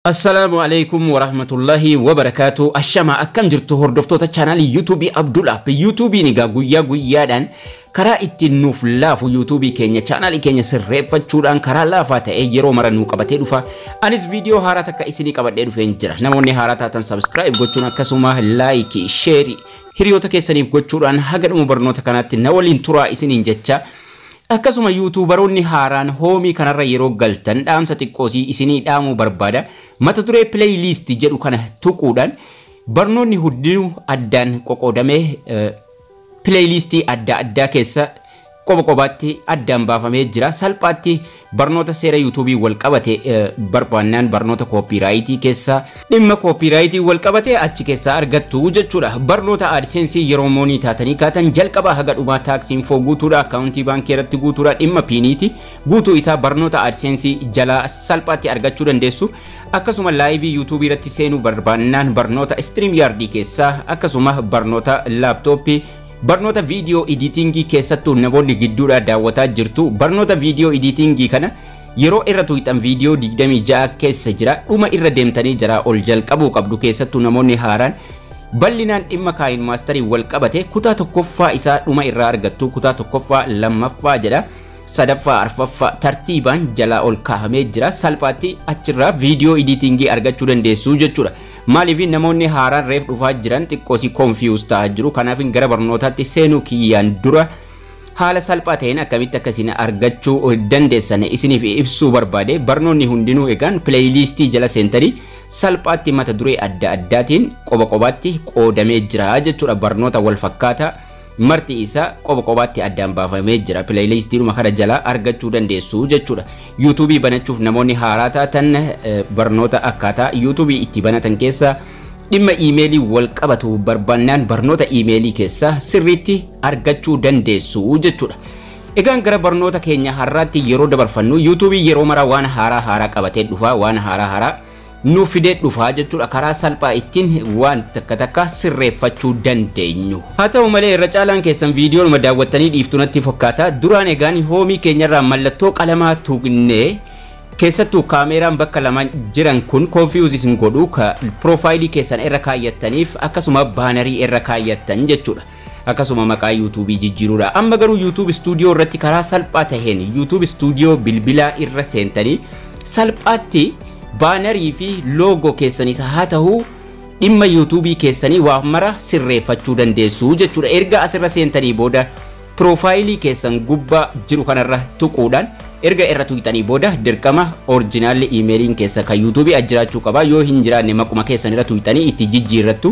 Assalaamu Aleykum Warahmatullahi Wabarakaatu Ashamaa akkam jirtu hordoftoota chaanaalii yuutuubii Abdul App yuutuubiin egaa guyyaa guyyaadhaan karaa ittiin nuuf laafu yuutuubii keenya chaanaalii keenya sirreeffachuudhaan karaa laafaa ta'ee yeroo mara nuu qabatee dhufa anis viidiyoo haaraa takka isinii qabadhee dhufeen jira namoonni haaraa taatan sabskiraayib gochuun akkasuma laayikii sheerii hiriyoota keessaniif gochuudhaan haga dhuma barnoota kanaatti na waliin turaa isiniin jecha Akkasuma Youtubaroonni haaraan Home kanarra yeroo galtan dhaamsa xiqqoosii isinii dhaamuu barbaada. Mata duree Play List jedhu kana tuquudhaan barnoonni hundinuu addaan qoqoodamee Play List adda addaa keessa qoba qobaatti addaan baafamee jira. Salphaatti barnoota seera YouTube wal qabate barbaannaan barnoota copyright keessa Dhimma kooppiiraayitiin walqabate achi keessaa argattu jechuudha. Barnoota AdSense yeroo moonii taatanii kaatan jalqabaa haga dhumaa tax info guutuudha, akkaawuntii baankii irratti guutuudha, dhimma piiniiti guutuu isaa barnoota AdSense jalaa salphaatti argachuu dandeessu. Akkasuma laayivii YouTube irratti seenuu barbaannaan barnoota StreamYard keessaa akkasuma barnoota laaptooppii Barnoota viidiyoo idiitingii keessattuu namoonni gidduudhaa daawwataa jirtu. Barnoota viidiyoo idiitingii kana Yeroo irra tuqxan viidiyoo 26 keessa jira dhuma irra deemtanii jaraa ol jalqabuu qabdu keessattuu namoonni haaraan bal'inaan dhimma kaayin maastariin wal qabate kutaa tokkoffaa isaa dhuma irraa argattu kutaa tokkoffaa lammaffaa jedha sadaffaa arfaffaa tartiibaan jalaa ol kaahamee jira salphaatti achirraa viidiyoo idiitingii argachuu dandeessuu jechuudha. Maaliif namoonni haaraan reef dhufaa jiran xiqqoosii konfiyuus ta'aa jiru kanaaf gara barnootaatti seenuu kiyyaan dura Haala salphaa ta'een akkamitti akka isin argachuu dandeessan isiniif ibsuu barbaade barnoonni hundinuu egaan pileeyiliistii jala seentanii salphaatti mata duree adda addaatiin qoba qobaatti qoodamee jira jechuudha barnoota wal fakkaataa marti isaa qoba qobaatti addaan baafamee jira pileeyiliistiidhuma kana jala argachuu dandeessu jechuudha yuutuubii banachuuf namoonni haaraa taatan barnoota akkaataa yuutuubii itti banatan keessaa Dhimma iimeeliin wal qabatu barbaannaan barnoota iimeelii keessaa sirriitti argachuu dandeessu jechuudha. Egaan gara barnoota keenya har'aatti yeroo dabarfannu yuutuubiin yeroo mara waan haaraa haaraa qabatee dhufa waan haaraa haaraa nuuf fidee dhufa jechuudha karaa salphaa ittiin waan takka takka sirreeffachuu dandeenyu. Haa ta'u malee irra caalaan keessan viidiyoonuma daawwattanii dhiiftu natti fakkaata duraan egaan hoomii keenyarraa mallattoo qalamaa tuqnee Keessattu kaameeraan bakka lama jiran kun confuse isin godhu ka profile keessan irra kaayyattaniif akkasuma baanarii irra kaayyattan jechuudha. Akkasuma maqaa YouTube jijjiiruudha. Amma garuu YouTube Studio irratti karaa salphaa taheen YouTube Studio bilbilaa irra seentanii salphaatti baanarii fi loogoo keessanis haa tahu dhimma YouTube keessanii waa mara sirreeffachuu dandeessu jechuudha. Erga asirra seentanii booda Piroofaayilii keessan gubbaa jiru kanarra tuquudhaan erga irra tuqxanii booda dirqama orjinaalli iimeeliin keessa kan yuutuubii as jiraachuu qaba yoo hin jiraanne maquma keessan irra tuqxanii itti jijjiirrattu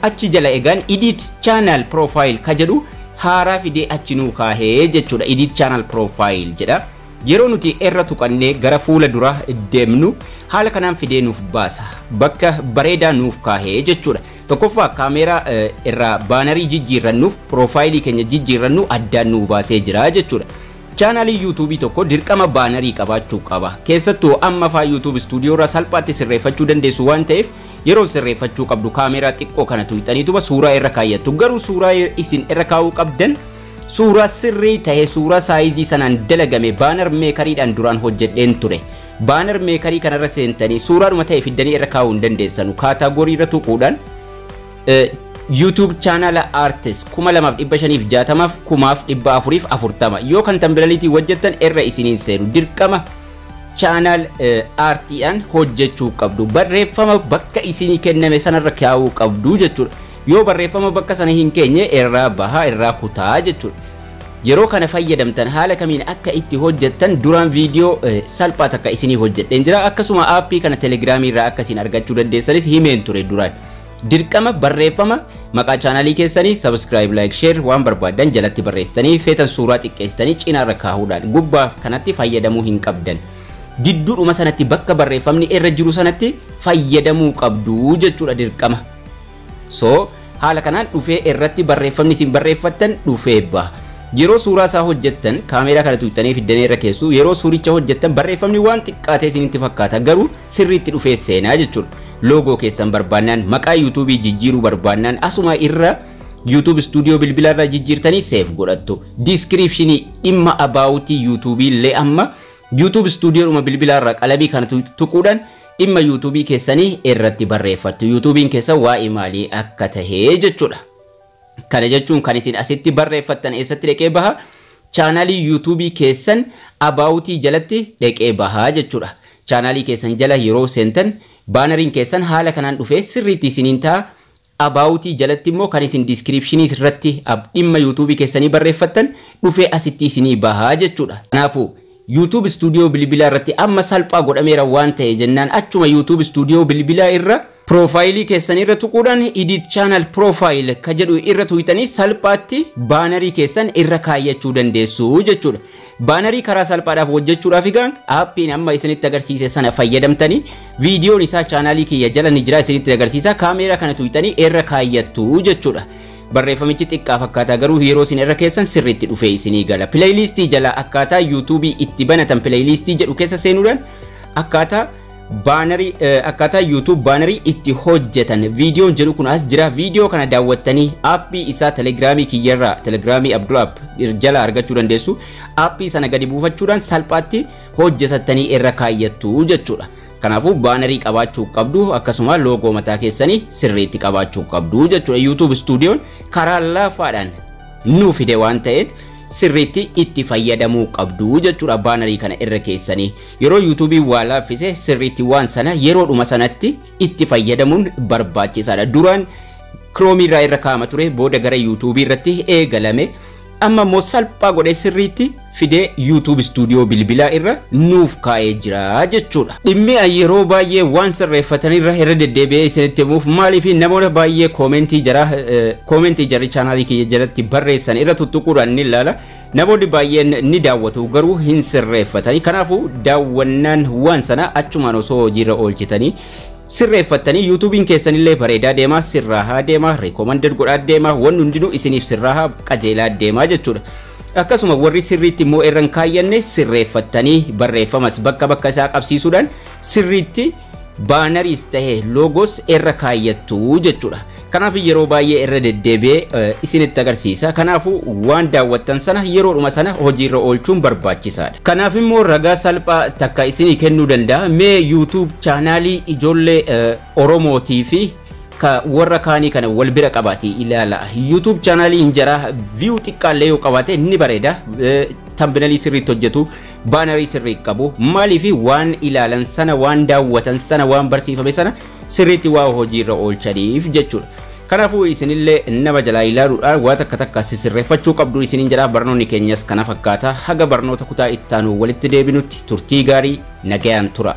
achi jala egaan idiit chaanaal piroofaayil ka jedhu haaraa fidee achi nuu kaahee jechuudha idiit chaanaal piroofaayil jedha yeroo nuti irra tuqannee gara fuula dura deemnu haala kanaan fidee nuuf baasa bakka bareedaa nuuf kaahee jechuudha Tokkoffaa kaameeraa irraa baanarii jijjiirrannuuf piroofaayilii keenya jijjiirrannu addaan nuu baasee jira jechuudha. Chaanaaliin yuutuubii tokko dirqama baanarii qabaachuu qaba. Keessattuu amma faa yuutuub istuudiyoo irraa salphaatti sirreeffachuu dandeessu waan ta'eef yeroon sirreeffachuu qabdu kaameeraa xiqqoo kana tuqxaniituma suuraa irra kaayyattu. Garuu suuraa isin irra kaa'uu qabdan suuraa sirrii ta'e suuraa saayizii sanaan dalagame baanar meekariidhaan duraan hojjedheen ture. Banner Maker kana irra seentanii suuraadhuma ta'e fiddanii irra kaa'uu hin dandeessanu. Kaataagorii irra tuquudhaan YouTube channel artist 2560f 1440 yoo kan tambilaliitiin hojjettan irra isiniin seenu dirqama channel artiidhaan hojjechuu qabdu barreeffama bakka isinii kenname sanarra kaa'uu qabdu jechuudha. Yoo barreeffama bakka sana hin keenye irraa bahaa, irraa kutaa jechuudha. Yeroo kana fayyadamtan haala kamiin akka itti hojjettan duraan viidiyoo salphaa takka isinii hojjedheen jira. Akkasuma aappii kana telegiraamii irraa akka isin argachuu dandeessanis himeen ture duraan. Dirqama barreeffama maqaa chaanaalii keessanii subscribe, like, share waan barbaaddan jalatti barreessitanii feetan suuraa xiqqeessitanii cinaarra kaahuudhaan gubbaa kanatti fayyadamuu hin qabdan. Gidduudhuma sanatti bakka barreeffamni irra jiru sanatti fayyadamuu qabdu jechuudha dirqama. So, haala kanaan dhufee irratti barreeffamni isin barreeffattan dhufee ba. Yeroo suuraa isaa hojjettan kaameeraa kana tuuttanii fiddanee irra keessu yeroo suuricha hojjettan barreeffamni waan xiqqaatee isinitti fakkaata garuu sirriitti dhufee seenaa jechuudha. Loogoo keessan barbaannaan maqaa yuutuubii jijjiiruu barbaannaan asuma irra YouTube Studio bilbila irra jijjiirtanii seef godhattu. Diiskiriipshinii dhimma abaawutii yuutuubii illee amma YouTube Studio dhuma bilbila irra qalamii kana tuquudhaan dhimma youtube keessanii irratti barreeffattu youtube'n keessan waa'ee maalii akka tahe jechuudha kana jechuun kan isin asitti barreeffattan eessatti dhaqee baha chaanaalii youtube keessan abaawutii jalatti dhaqee baha jechuudha chaanaalii keessan jala yeroo seentan baanariin keessan haala kanaan dhufee sirriitti isiniin ta'a About jalatti immoo kan isin descriptions irratti ab dhimma youtube keessanii barreeffattan dhufee asitti isinii baha jechuudha. Kanaafuu, YouTube Studio bilbilaa irratti amma salphaa godhameera waan ta'e jennaan achuma YouTube Studio bilbilaa irra profile keessan irra tuquudhaan Edit Channel Profile ka jedhu irra tuqxanii salphaatti baanarii keessan irra kaayyachuu dandeessu jechuudha. Baanarii karaa salphaadhaaf hojjechuudhaaf egaan aappiin amma isinitti agarsiise sana fayyadamtanii viidiyoon isaa chaanaalii kiyya jala ni jira isinitti agarsiisa kaameeraa kana tuqxanii irra kaayyattu jechuudha. Barreeffamichi xiqqaa fakkaataa garuu yeroo isin irra keessan sirriitti dhufee isinii gala. Pileeyiliistii jala akkaataa yuutuubii itti banatan pileeyiliistii jedhu keessa seenuudhaan akkaataa Baanarii akkaataa YouTube baanarii itti hojjetan viidiyoon jedhu kun as jira viidiyoo kana daawwattanii aappii isaa telegiraamii kiyyarraa telegiraamii Abdul App jala argachuu dandeessu aappii sana gadi buufachuudhaan salphaatti hojjetattanii irra kaayyattu jechuudha. Kanaafuu baanarii qabaachuu qabdu akkasuma loogoo mataa keessanii sirriitti qabaachuu qabdu jechuudha. YouTube stuudiyoon karaa laafaadhaan nu fide waan ta'eef sirriitti itti fayyadamuu qabdu jechuudha baanarii kana irra keessanii. Yeroo yuutuubiin waa laaffise sirriitti waan sana yeroodhuma sanatti itti fayyadamuun barbaachisaadha. Duraan kiroomi irraa irra kaa'ama ture booda gara yuutuubii irratti eegalame. Amma immoo salphaa godhee sirriitti fidee yuutuub istuudiyoo bilbilaa irra nuuf kaa'ee jira jechuudha. Dhimmi an yeroo baay'ee waan sirreeffatan irra irra deddeebi'ee isinitti himuuf maaliif namoota baay'ee koomentii jara koomentii jarri chaanaalii kiyya jalatti barreessan irra tuttuquudhaan ni ilaala. Namoonni baay'een ni daawwatu garuu hin sirreeffatani. Kanaafuu daawwannaan waan sanaa achumaan osoo hojiirra oolchitanii sirreeffattanii yuutuubiin keessanillee bareedaa deemaa sirraahaa deemaa reekoomanded godhaa deemaa wanni hundinuu isiniif sirraahaa qajeelaa deemaa jechuudha. Akkasuma warri sirriitti immoo irra hin kaayyanne sirreeffattanii barreeffamas bakka bakka isaa qabsiisuudhaan sirriitti baanariis ta'e loogos irra kaayyattu jechuudha. Kanaaf yeroo baay'ee irra deddeebi'ee isinitti agarsiisa. Kanaafuu waan daawwattan sana yeroodhuma sana hojiirra oolchuun barbaachisaadha. Kanaaf immoo ragaa salphaa takka isinii kennuu danda'a. Mee YouTube chaanaalii ijoollee Oromootii fi ka warra kaanii kana wal bira qabaati ilaala. YouTube chaanaalii injaraa view xiqqaallee yoo qabaate ni bareeda. Tambinalii sirriitti hojjetu. baanarii sirrii qabu maaliif waan ilaalan sana waan daawwatan sana waan barsiifame sana sirriitti waa hojiirra oolchaniif jechuudha. Kanaafuu isinillee nama jalaa ilaaluudhaan waa takka takka sisirreeffachuu qabdu isiniin jedha barnoonni keenyas kana fakkaata haga barnoota kutaa ittaanu walitti deebinutti turtii gaarii nagayaan tura.